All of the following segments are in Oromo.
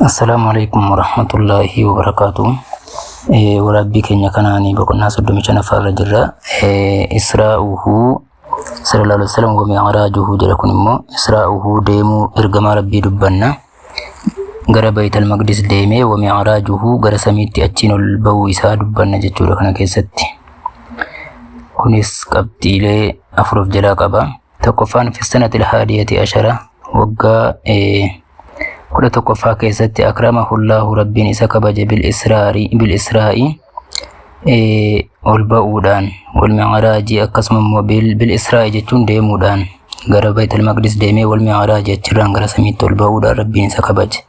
Assalaamu alaikum warahmatullaahi wabarakaatu. Waraabbii keenya kanaan boqonnaa soddomii shanaffaa irra jirra. Israa'uhu sallallahu alaihi wasallam wa mi'raajuhu jedha kun immoo Israa'uhu deemuu ergamaa Rabbii dubbanna. Gara Bayital Maqdis deemee wa mi'raajuhu gara samiitti achiin ol ba'uu isaa dubbanna jechuudha kana keessatti. Kunis qabxiilee afur of jalaa qaba. tokkoffaan fissanatil haadiyati ashara waggaa kudha tokkoffaa keessatti akrama hullaahu rabbiin isa kabaje bil israari bil israa'i ol ba'uudhaan wal mi'araajii akkasuma immoo bil israa'i jechuun deemuudhaan gara baytul maqdis deemee wal mi'araajii achirraan gara samiitti ol ba'uudhaan rabbiin isa kabaje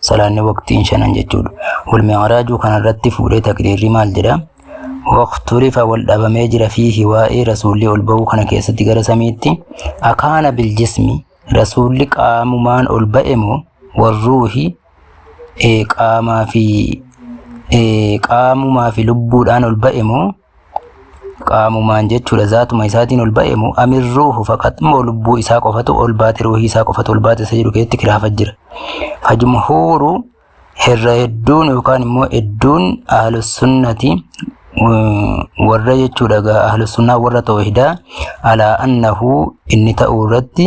salaanni waqtiin shanan jechuudha. Wal mi'raajuu kanarratti fuudhee taqriirri maal jedha? Waqturifa wal dhabamee jira fiihi waa'ee rasuulli ol ba'uu kana keessatti gara samiitti akaana biljismi rasuulli qaamumaan ol ba'e moo warruuhi qaamaa fi qaamumaa fi lubbuudhaan ol ba'e moo qaamumaan jechuudha zaatuma isaatiin ol ba'e moo amir ruuhu faqat moo lubbuu isaa qofatu ol baate ruuhii isaa qofatu ol baate isa jedhu keessatti kiraafa jira fajumhuuru irra hedduun yookaan immoo hedduun ahlusunnati warra jechuudha gaa ahlusunnaa warra tawhidaa alaa annahu inni ta'uu irratti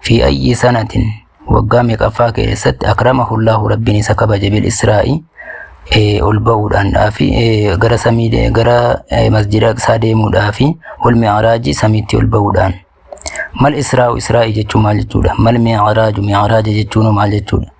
Fi ayyi sanatin waggaa meeqaffaa keessatti akramahullaahu rabbiin isa kabaje bil israa'i eh, ol ba'uudhaan dhaafi eh, gara samii de- gara eh, masjida isaa deemuudhaafi wal mi'araajii samiitti ol ba'uudhaan mal israa'u israa'i jechuun maal jechuudha mal mi'araaju mi'araaja jechuun maal jechuudha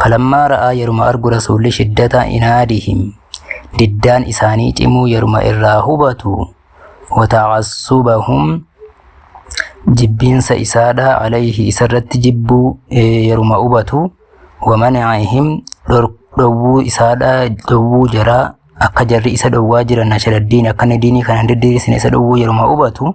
Falammaa ra'aa yeruma argu Rasuulli shiddata inaadihim diddaan isaanii cimuu yeruma irraa hubatu wata'assubahum jibbiinsa isaadha alayhi isarratti jibbuu yeruma hubatu wamana'ihim dhowwuu isaadha dhowwuu jaraa akka jarri isa dhowwaa jiran nashaladdiin akka inni diinii kana hin diddiirisne isa dhowwuu yeruma hubatu